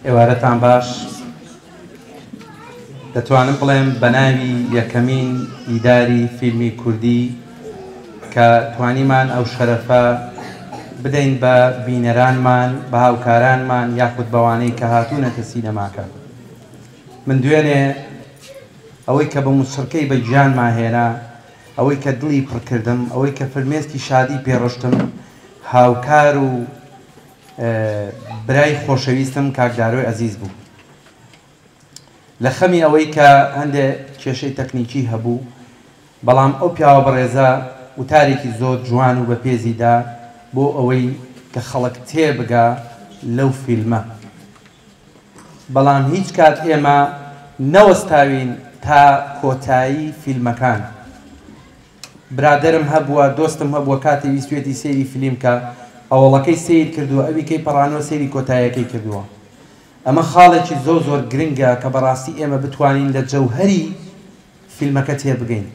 ئێوارەتان باش دەتوانم بڵێم بە ناوی یەکەمین ئیداری فیلمی کوردی کە توانیمان ئەو شەرەفە بدەین بە بینەرانمان بە هاوکارانمان یاخود بەوانەی کە هاتوونەتە سینەماکە من دوێنێ ئەوەی کە بە موسڕکەی بە گیان ماهێنا ئەوەی کە دڵی پڕکردم ئەوەی کە فرمێسکی شادی پێڕشتم هاوکار و برای خۆشەویستم کاک دارۆی ئەزیز بوو لە خەمی ئەوەی کە هەندێ کێشەی تەکنیکی هەبوو بەڵام ئەو پیاوە بەڕێزە وتارێکی زۆر جوان و بەپێزی دا بۆ ئەوەی کە خەڵک تێبگا لەو فیلمە بەڵام هیچ کات ئێمە نەوەستاوین تا کۆتایی فیلمەکان. برادەرم هەبووە دۆستم هەبووە کاتی ویستویەتی سەیری فلیم کا ئەوەڵەکەی سەیر کردووە ئەوی کەی پەڕانەوە سەیری کۆتایەکەی کردووە ئەمە خاڵێکی زۆر زۆر گرنگە کە بەڕاستی ئێمە بتوانین لە جەوهەری فیلمەکە تێبگەین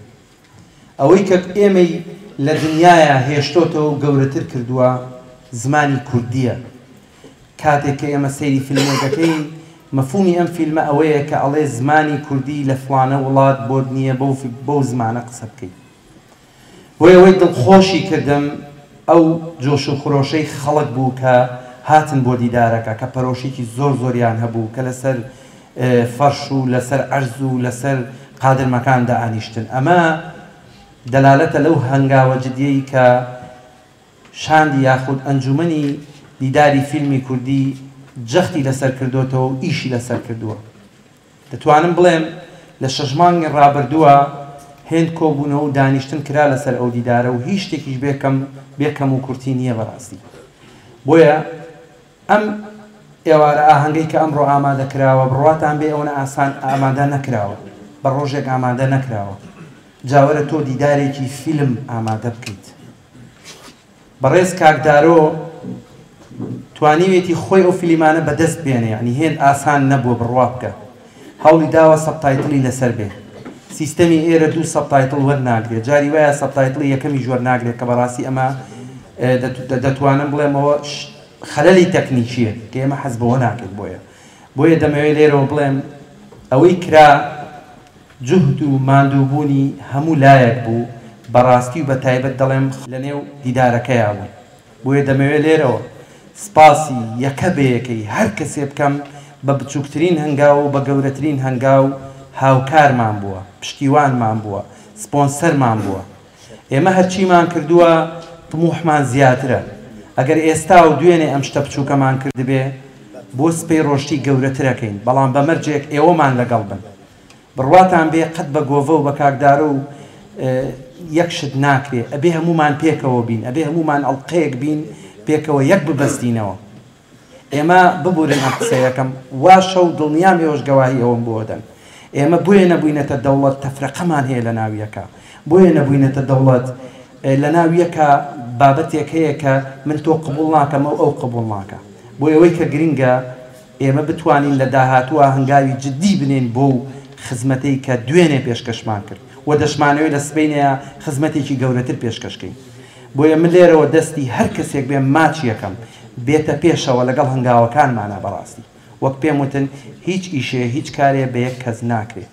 ئەوەی کە ئێمەی لە دنیایا هێشتۆتەوەو گەورەتر کردووە زمانی کوردیە کاتێک کە ئێمە سەیری فیلمێک ئەکەین مەفومی ئەم فیلمە ئەوەیە کە ئەڵێ زمانی کوردی لە فڵانە وڵات بۆت نییە بەو بەو زمانە قسە بکەی بۆیە وەی دڵخۆشی کردم ئەو جۆش و خرۆشەی خەڵک بوو کە هاتن بۆ دیدارەکە کە پەرۆشیکی زۆر زۆریان هەبوو کە لەسەر فەرش و لەسەر عەرز و لەسەر قادرمەکان دائانیشتن ئەمە دەلالەتە لەو هەنگاوە جدیەی کە شاندی یاخود ئەنجومەنی دیداری فیلمی کوردی جەختی لەسەر کردۆتەوە و ئیشی لەسەر کردووە. دەتوانم بڵێم لە شەش مانگی ڕابردووە هێند کۆبوونەوە و دانیشتن کرا لەسەر ئەو دیدارە و هیچ شتێکیش بێ کەم بێ کەم و کورتی نییە بەڕاستی بۆیە ئەم ئێوارە ئاهەنگەی کە ئەمڕۆ ئامادە کراوە بڕواتان بێ ئەوەنە ئاسان ئامادە نەکراوە بە ڕۆژێک ئامادە نەکراوە جاوەرە تۆ دیدارێکی فیلم ئامادە بکەیت. بەڕێز کاک دارۆ توانیوێتی خۆی ئەو فلیمانە بەدەست بێنێ یعنی هێند ئاسان نەبووە بڕوا بکە هەوڵی داوە سەبتایتڵی لەسەر بێ سیستەمی ئێرە دوو سەبتایتڵ وەرناگرێ جاری وایە سەبتایتڵی یەکەمیش وەرناگرێت کە بەڕاستی ئەمە دەتوانم بڵێمەوە خەلەلی تەکنیکیە کە ئێمە حەز بەوە ناکەین بۆیە بۆیە دەمەوێت لێرەوە بڵێم ئەوەی کرا جوهد و ماندووبوونی هەموو لایەک بوو، بەڕاستی و بە تایبەت دەڵێم لەنێو دیدارەکەیا بوون، بۆیە دەمەوێ لێرەوە سپاسی یەکە بەیەکەی هەر کەسێ بکەم بە بچووکترین هەنگاو و بە گەورەترین هەنگاو هاوکارمان بووە، پشتیوانمان بووە، سپۆنسەرمان بووە. ئێمە هەرچیمان کردووە تموحمان زیاترە، ئەگەر ئێستا و دوێنێ ئەم شتە بچووکەمان کردبێ، بۆ سبەی ڕۆشتی گەورەترەکەین، بەڵام بە مەرجێک ئێوەمان لەگەڵ بن. بڕواتان بێ قەت بە گۆڤە و بە کاک دارۆ و یەک شت ناکرێ ئەبێ هەموومان پێکەوە بین ئەبێ هەموومان ئەڵقەیەک بین پێکەوە یەک ببەستینەوە ئێمە ببورن ئەم قسەیەکەم واشە و دڵنیام ئێوەش گەواهی ئەوەم بۆ دەن ئێمە بۆیە نەبووینەتە دەوڵەت تەفرەقەمان هەیە لە ناویەکە بۆیە نەبووینەتە دەوڵەت لە ناویەکە بابەتێک هەیە کە من تۆ قبول ناکەمە و ئەو قبول ناکە بۆ ئەوەی کە گرنگە ئێمە بتوانین لە داهاتووە هەنگاوی جددی بنێین بۆ و خزمەتەی کە دوێنێ پێشکەشمان کرد و دەشمانەوێت لە سبەینێ خزمەتێکی گەورەتر پێشکەشکەین بۆیە من لێرەوە دەستی هەر کەسێک بێ ماچ یەکەم بێتە پێشەوە لەگەڵ هەنگاوەکانمانە بەڕاستی وەک پێم وتن هیچ ئیشێ هیچ کارێ بە یەک کەس ناکرێ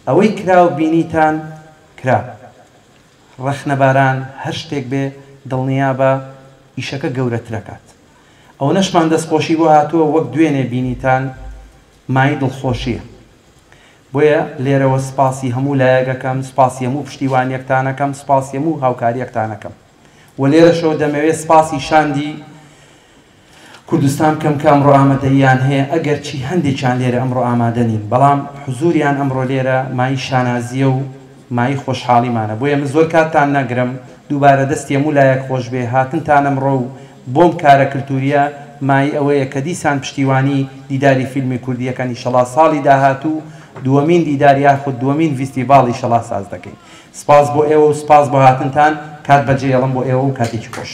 ئەوەی کراو بینیتان کرا ڕەخنەباران هەر شتێک بێ دڵنیابە ئیشەکە گەورەترەکات ئەوەنەشمان دەستخۆشی بۆ هاتووە وەک دوێنێ بینیتان مایەی دڵخۆشیە بۆیە لێرەوە سپاسی هەموو لایەگەکەم سپاسی هەموو پشتیوانیەکتانەکەم سپاسی هەموو هاوکاریەکتانەکەم وە لێرەشەوە دەمەوێ سپاسی شاندی کوردستان کەم کام ڕۆئامەدەییان هەیە ئەگەر چی هەندێکیان لێرە ئەمڕۆ ئامادە نین بەڵام حزوریان ئەمڕۆ لێرە مایەی شانازیە و مایەی خۆشحاڵیمانە بۆیە من زۆر کاتتان نەگرم دووبارە دەستی هەموو لایەک خۆش بێ هاتنتان ئەمڕۆ و بۆم کارە کلتوریە مایەی ئەوەیە کە دیسان پشتیوانی دیداری فیلمی کوردی یەکەن ئیشەڵا ساڵی داهاتوو دووەمین دیدار یاخود دووەمین ڤیستیڤاڵ ئیشەڵا ساز دەکەین سپاس بۆ ئێوە و سپاس بۆ هاتنتان کات بەجێ ئێڵم بۆ ئێوە و کاتێکی خۆش.